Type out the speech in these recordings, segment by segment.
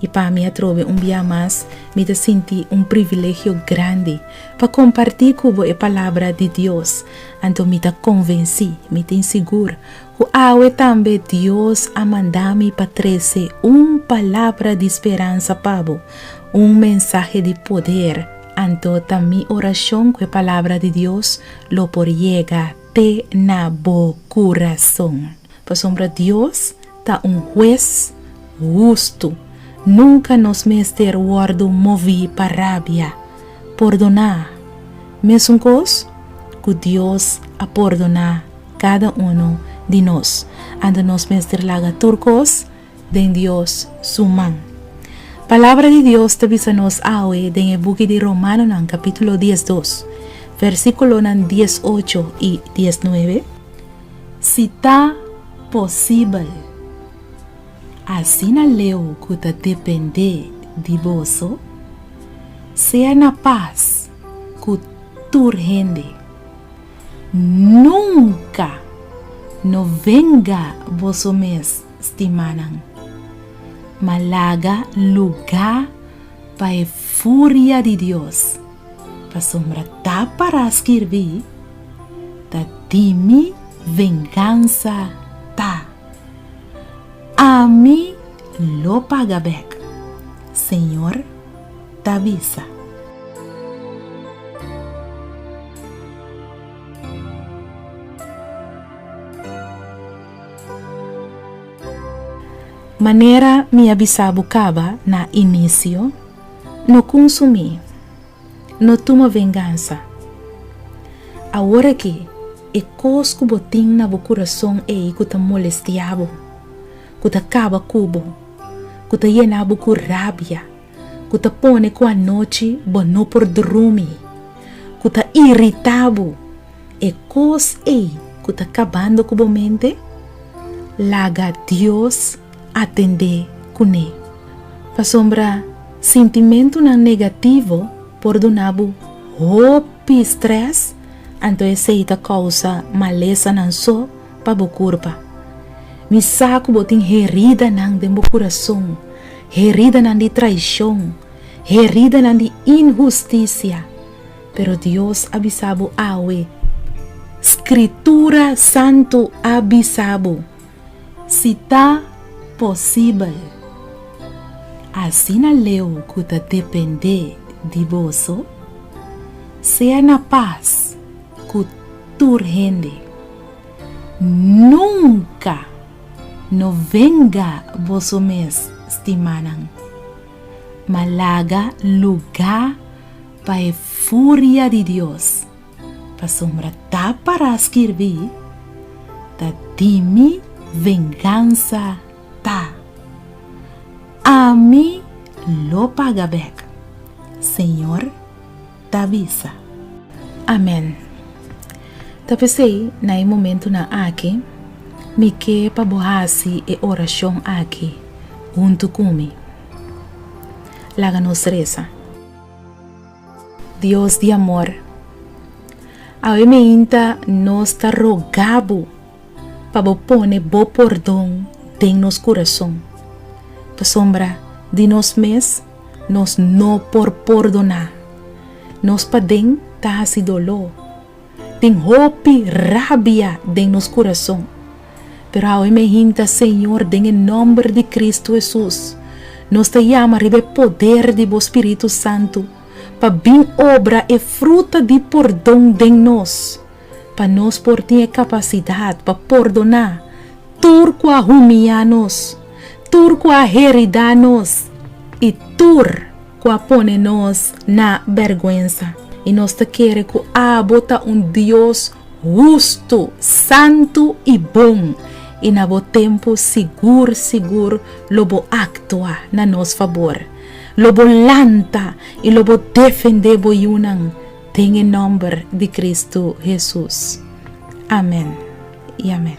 I pa mi atrobe un bia mas, mi ta sinti un privilegio grandi pa kompartí ku bo e Palabra di Dios. Anto mi ta konvensí, mi tin sigur, ku awe tambe Dios a manda mi pa trese un palabra di speransa pa bo, un mensahe di poder. Anto ta mi orashon ku e Palabra di Dios lo por yega te na bo kurason. Pasobra Dios ta un hues hustu. Nunka nos mester wòrdu moví pa rabia. Pordoná, mesun kos ku Dios a pordoná kada unu di nos. Anto nos mester laga tur kos den Dios su man. Palabra di Dios ta bisa nos awe den e buki di Romanonan kapítulo diesdos, versíkulonan diesocho i diesnuebe, Si ta posibel. Asina leu ku ta dependé di boso, sea na pas ku tur hende. Nunka no venga boso mes, stimánan, ma laga lugá pa e furia di Dios, pasobra ta pará skirbí, Ta di mi vengansa ta, Ami lo paga bèk, Señor ta bisa. Manera mi a bisa bo caba na inicio, no cunsumi, no tuma vengansa. Awor aki, e cos cu bo tin na bo curason ey cu ta molestia bo, cu ta caba cu bo, cu ta yena bo cu rabia, cu ta pone cu anochi bo no por drumi, cu ta irita bo, e kos ei ku ta kabando ku bo mente? Laga Dios atendé kuné. Pasobra sintimentunan negativo por duna bo hopi strès, anto esei ta kousa malesanan so pa bo kurpa. Mi sa ku bo tin heridanan den bo kurason, heridanan di traishon, heridanan di inhustisia. Pero Dios a bisa bo awe, Scritura Santu a bisa bo, si ta posibel. Asina leu cu ta depende di boso, sea na pas cu tur hende. Nunca no venga boso mes, stimanan, ma laga lugar. Pa e furia di Dios, pasobra ta pará skirbí, Ta di mi vengansa ta, Ami lo paga bèk, Señor ta bisa. Amèn. Ta p'esei, na e momentunan aki, mi ke pa bo hasi e orashon aki huntu ku mi. Laga nos resa. Dios di amor, awe meinta nos ta rogá bo pa bo pone bo pordon den nos kurason. Pasobra di nos mes nos no por pordoná nos paden ta hasi doló. Tin hopi rabia den nos kurason, pero awe mi a hinta, Señor, den e nòmber di Kristu Hesus, nos ta yama riba e poder di bo Spiritu Santu pa bin obra e fruta di pordon den nos, pa nos por tin e kapasidat pa pordoná tur ku a humia nos, tur ku a heridá nos i tur. ku a pone nos na bèrgwensa, i nos ta kere ku abo ta un Dios hustu, santu i bon, i na bo tempu sigur sigur lo bo aktua na nos fabor, lo bo lanta i lo bo defendé bo yunan, den e nòmber di Kristu Hesus. Amèn i amèn.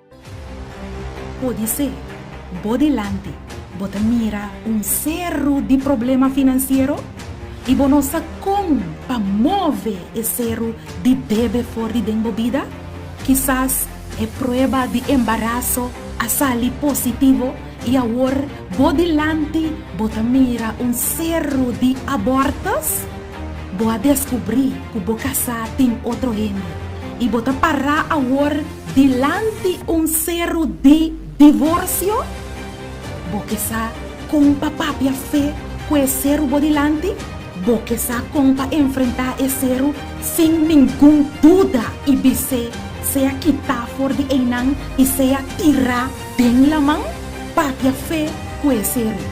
Podisé bo dilanti bo ta mira un seru di problema finansiero i bo no sa kon pa move e seru di bebe for di den bo bida. Kisas e prueba di embaraso a sali positivo i awor bo dilanti bo ta mira un seru di abòrtus. Bo a deskubrí ku bo kasá den otro hende i bo ta pará awor dilanti un seru di divorsio? Bo ke sa kon pa papia fe ku e seru bo dilanti? Bo ke sa kon pa enfrentá e seru sin ningun duda i bis'é sea kitá for di einan i sea tirá den laman? Papia fe ku e seru.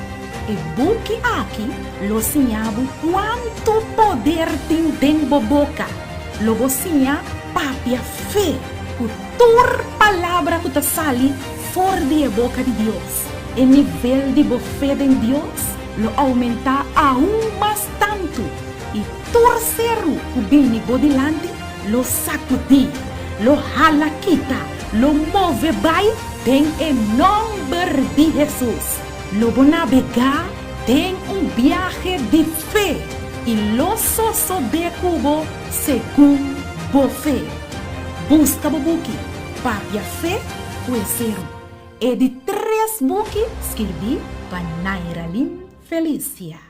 E buki aki lo siña bo kuantu poder tin den bo boka. Lo bo siña papia fe ku tur palabra ku ta sali for di e boka di Dios. E nivel di bo fe den Dios lo oumentá aun mas tantu, i tur seru ku bini bo dilanti lo sakudí, lo hala kita, lo move bai den e nòmber di Hesus. Lo bo nabegá den un biahe di fe i lo sosobé ku bo segun bo fe. Buska bo buki Papia Fe ku e seru. E di tres buki skirbí pa Nairalin Felicia.